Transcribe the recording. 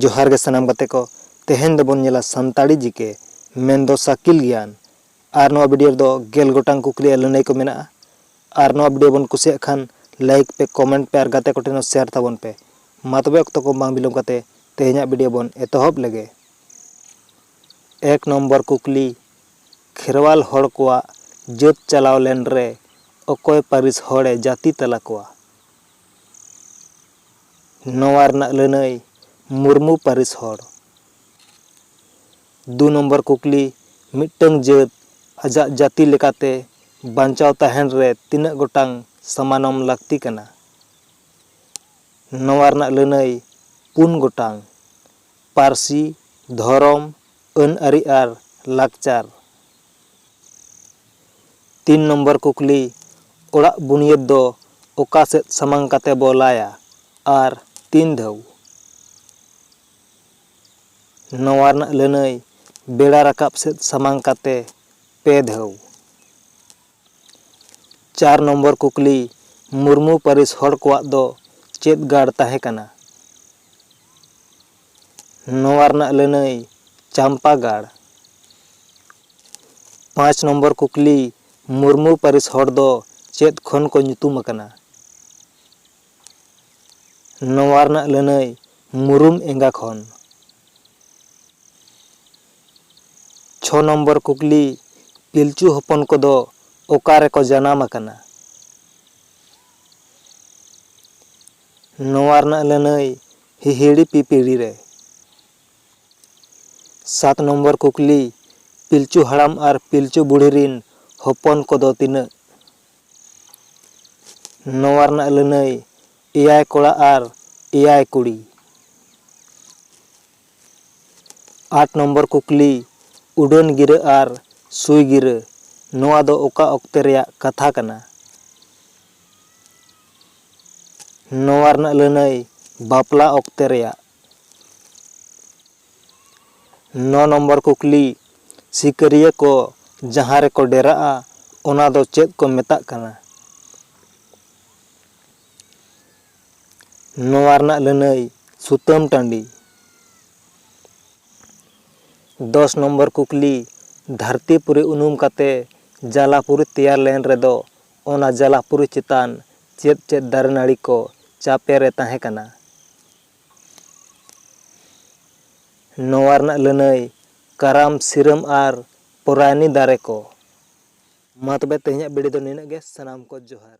ᱡᱚᱦᱟᱨ ᱜᱮ ᱥᱟᱱᱟᱢ ᱜᱟᱛᱮ ᱠᱚ ᱛᱮᱦᱮᱧ ᱫᱚᱵᱚᱱ ᱧᱮᱞᱟ ᱥᱟᱱᱛᱟᱲᱤ ᱡᱤᱠᱮ ᱢᱮᱱᱫᱚ ᱥᱟᱠᱤᱞ ᱜᱮᱭᱟᱱ ᱟᱨ ᱱᱚᱣᱟ ᱵᱷᱤᱰᱤᱭᱳ ᱨᱮᱫᱚ ᱜᱮᱞ ᱜᱚᱴᱟᱝ ᱠᱩᱠᱞᱤ ᱟᱨ ᱞᱟᱹᱱᱟᱹᱭ ᱠᱚ ᱢᱮᱱᱟᱜᱼᱟ ᱟᱨ ᱱᱚᱣᱟ ᱵᱷᱤᱰᱤᱭᱳ ᱵᱚᱱ ᱠᱩᱥᱤᱭᱟᱜ ᱠᱷᱟᱱ ᱞᱟᱭᱤᱠ ᱯᱮ ᱠᱚᱢᱮᱱᱴ ᱯᱮ ᱟᱨ ᱜᱟᱛᱮ ᱠᱚ ᱴᱷᱮᱱ ᱦᱚᱸ ᱥᱮᱭᱟᱨ ᱛᱟᱵᱚᱱ ᱯᱮ ᱢᱟ ᱛᱚᱵᱮ ᱚᱠᱛᱚ ᱠᱚ ᱵᱟᱝ ᱵᱤᱞᱚᱢ ᱠᱟᱛᱮ ᱛᱮᱦᱮᱧᱟᱜ ᱵᱷᱤᱰᱤᱭᱳ ᱵᱚᱱ ᱮᱛᱚᱦᱚᱵ ᱞᱮᱜᱮ ᱮᱠ ᱱᱚᱢᱵᱚᱨ ᱠᱩᱠᱞᱤ ᱠᱷᱮᱨᱣᱟᱞ ᱦᱚᱲ ᱠᱚᱣᱟᱜ ᱡᱟᱹᱛ ᱪᱟᱞᱟᱣ ᱞᱮᱱ ᱨᱮ ᱚᱠᱚᱭ ᱯᱟᱹᱨᱤᱥ ᱦᱚᱲ ᱮ ᱡᱟᱹᱛᱤ ᱛᱟᱞᱟ ᱠᱚᱣᱟ? ᱱᱚᱣᱟ ᱨᱮᱱᱟᱜ ᱞᱟᱹᱱᱟᱹᱭ ᱢᱩᱨᱢᱩ ᱯᱟᱹᱨᱤᱥ ᱦᱚᱲ᱾ ᱫᱩ ᱱᱚᱢᱵᱚᱨ ᱠᱩᱠᱞᱤ ᱢᱤᱫᱴᱟᱹᱝ ᱡᱟᱹᱛ ᱟᱡᱟᱜ ᱡᱟᱹᱛᱤ ᱞᱮᱠᱟᱛᱮ ᱵᱟᱧᱪᱟᱣ ᱛᱟᱦᱮᱸᱱ ᱨᱮ ᱛᱤᱱᱟᱹᱜ ᱜᱚᱴᱟᱝ ᱥᱟᱢᱟᱱᱚᱢ ᱞᱟᱹᱠᱛᱤ ᱠᱟᱱᱟ? ᱱᱚᱣᱟ ᱨᱮᱱᱟᱜ ᱞᱟᱹᱱᱟᱹᱭ ᱯᱩᱱ ᱜᱚᱴᱟᱝ᱾ ᱯᱟᱹᱨᱥᱤ, ᱫᱷᱚᱨᱚᱢ, ᱟᱹᱱᱼᱟᱹᱨᱤ ᱟᱨ ᱞᱟᱠᱪᱟᱨ᱾ ᱛᱤᱱ ᱱᱚᱢᱵᱚᱨ ᱠᱩᱠᱞᱤ, ᱚᱲᱟᱜ ᱵᱩᱱᱤᱭᱟᱹᱫᱽ ᱫᱚ ᱚᱠᱟ ᱥᱮᱫ ᱥᱟᱢᱟᱝ ᱠᱟᱛᱮ ᱵᱚ ᱞᱟᱭᱟ ᱟᱨ ᱛᱤᱱ ᱫᱷᱟᱹᱣ? ᱱᱚᱣᱟ ᱨᱮᱱᱟᱜ ᱞᱟᱹᱱᱟᱹᱭ, ᱵᱮᱲᱟ ᱨᱟᱠᱟᱵ ᱥᱮᱫ ᱥᱟᱢᱟᱝ ᱠᱟᱛᱮ ᱯᱮ ᱫᱷᱟᱹᱣ᱾ ᱪᱟᱨ ᱱᱚᱢᱵᱚᱨ ᱠᱩᱠᱞᱤ, ᱢᱩᱨᱢᱩ ᱯᱟᱹᱨᱤᱥ ᱦᱚᱲ ᱠᱚᱣᱟᱜ ᱫᱚ ᱪᱮᱫ ᱜᱟᱲ ᱛᱟᱦᱮᱸ ᱠᱟᱱᱟ? ᱱᱚᱣᱟ ᱨᱮᱱᱟᱜ ᱞᱟᱹᱱᱟᱹᱭ, ᱪᱟᱢᱯᱟ ᱜᱟᱲ᱾ ᱯᱟᱸᱪ ᱱᱚᱢᱵᱚᱨ ᱠᱩᱠᱞᱤ, ᱢᱩᱨᱢᱩ ᱯᱟᱹᱨᱤᱥ ᱦᱚᱲ ᱫᱚ ᱪᱮᱫ ᱠᱷᱚᱱ ᱠᱚ ᱧᱩᱛᱩᱢ ᱟᱠᱟᱱᱟ? ᱱᱚᱣᱟ ᱨᱮᱱᱟᱜ ᱞᱟᱹᱱᱟᱹᱭ, ᱢᱩᱨᱩᱢ ᱮᱸᱜᱟ ᱠᱷᱚᱱ᱾ ᱪᱷᱚ ᱱᱚᱢᱵᱚᱨ ᱠᱩᱠᱞᱤ, ᱯᱤᱞᱪᱩ ᱦᱚᱯᱚᱱ ᱠᱚᱫᱚ ᱚᱠᱟ ᱨᱮᱠᱚ ᱡᱟᱱᱟᱢ ᱟᱠᱟᱱᱟ? ᱱᱚᱣᱟ ᱨᱮᱱᱟᱜ ᱞᱟᱹᱱᱟᱹᱭ ᱦᱤᱦᱤᱲᱤ ᱯᱤᱯᱤᱲᱤ ᱨᱮ᱾ ᱥᱟᱛ ᱱᱚᱢᱵᱚᱨ ᱠᱩᱠᱞᱤ, ᱯᱤᱞᱪᱩ ᱦᱟᱲᱟᱢ ᱟᱨ ᱯᱤᱞᱪᱩ ᱵᱩᱲᱦᱤ ᱨᱤᱱ ᱦᱚᱯᱚᱱ ᱠᱚᱫᱚ ᱛᱤᱱᱟᱹᱜ? ᱱᱚᱣᱟ ᱨᱮᱱᱟᱜ ᱞᱟᱹᱱᱟᱹᱭ ᱮᱭᱟᱭ ᱠᱚᱲᱟ ᱟᱨ ᱮᱭᱟᱭ ᱠᱩᱲᱤ᱾ ᱟᱴ ᱱᱚᱢᱵᱚᱨ ᱠᱩᱠᱞᱤ, ᱩᱰᱟᱹᱱ ᱜᱤᱨᱟᱹ ᱟᱨ ᱥᱩᱭ ᱜᱤᱨᱟᱹ ᱱᱚᱣᱟ ᱫᱚ ᱚᱠᱟ ᱚᱠᱛᱮ ᱨᱮᱭᱟᱜ ᱠᱟᱛᱷᱟ ᱠᱟᱱᱟ? ᱱᱚᱣᱟ ᱨᱮᱱᱟᱜ ᱞᱟᱹᱱᱟᱹᱭ, ᱵᱟᱯᱞᱟ ᱚᱠᱛᱮ ᱨᱮᱭᱟᱜ᱾ ᱱᱚ ᱱᱚᱢᱵᱚᱨ ᱠᱩᱠᱞᱤ, ᱥᱤᱠᱟᱹᱨᱤᱭᱟᱹ ᱠᱚ ᱡᱟᱦᱟᱸ ᱨᱮᱠᱚ ᱰᱮᱨᱟᱜᱼᱟ ᱚᱱᱟ ᱫᱚ ᱪᱮᱫ ᱠᱚ ᱢᱮᱛᱟᱜ ᱠᱟᱱᱟ? ᱱᱚᱣᱟ ᱨᱮᱱᱟᱜ ᱞᱟᱹᱱᱟᱹᱭ ᱥᱩᱛᱟᱹᱢ ᱴᱟᱺᱰᱤ᱾ ᱫᱚᱥ ᱱᱚᱢᱵᱚᱨ ᱠᱩᱠᱞᱤ ᱫᱷᱟᱹᱨᱛᱤ ᱯᱩᱨᱤ ᱩᱱᱩᱢ ᱠᱟᱛᱮ ᱡᱟᱞᱟ ᱯᱩᱨᱤ ᱛᱮᱭᱟᱨ ᱞᱮᱱ ᱨᱮᱫᱚ ᱚᱱᱟ ᱡᱟᱞᱟ ᱯᱩᱨᱤ ᱪᱮᱛᱟᱱ ᱪᱮᱫ ᱪᱮᱫ ᱫᱟᱨᱮ ᱱᱟᱹᱲᱤ ᱠᱚ ᱪᱟᱯᱮ ᱨᱮ ᱛᱟᱦᱮᱸ ᱠᱟᱱᱟ? ᱱᱚᱣᱟ ᱨᱮᱱᱟᱜ ᱞᱟᱹᱱᱟᱹᱭ ᱠᱟᱨᱟᱢ ᱥᱤᱨᱟᱹᱢ ᱟᱨ ᱯᱚᱨᱟᱭᱱᱤ ᱫᱟᱨᱮ ᱠᱚ᱾ ᱢᱟ ᱛᱚᱵᱮ ᱛᱮᱦᱮᱧᱟᱜ ᱵᱤᱰᱤᱭᱳ ᱫᱚ ᱱᱤᱱᱟᱹᱜ ᱜᱮ ᱥᱟᱱᱟᱢ ᱠᱚ ᱡᱚᱦᱟᱨ᱾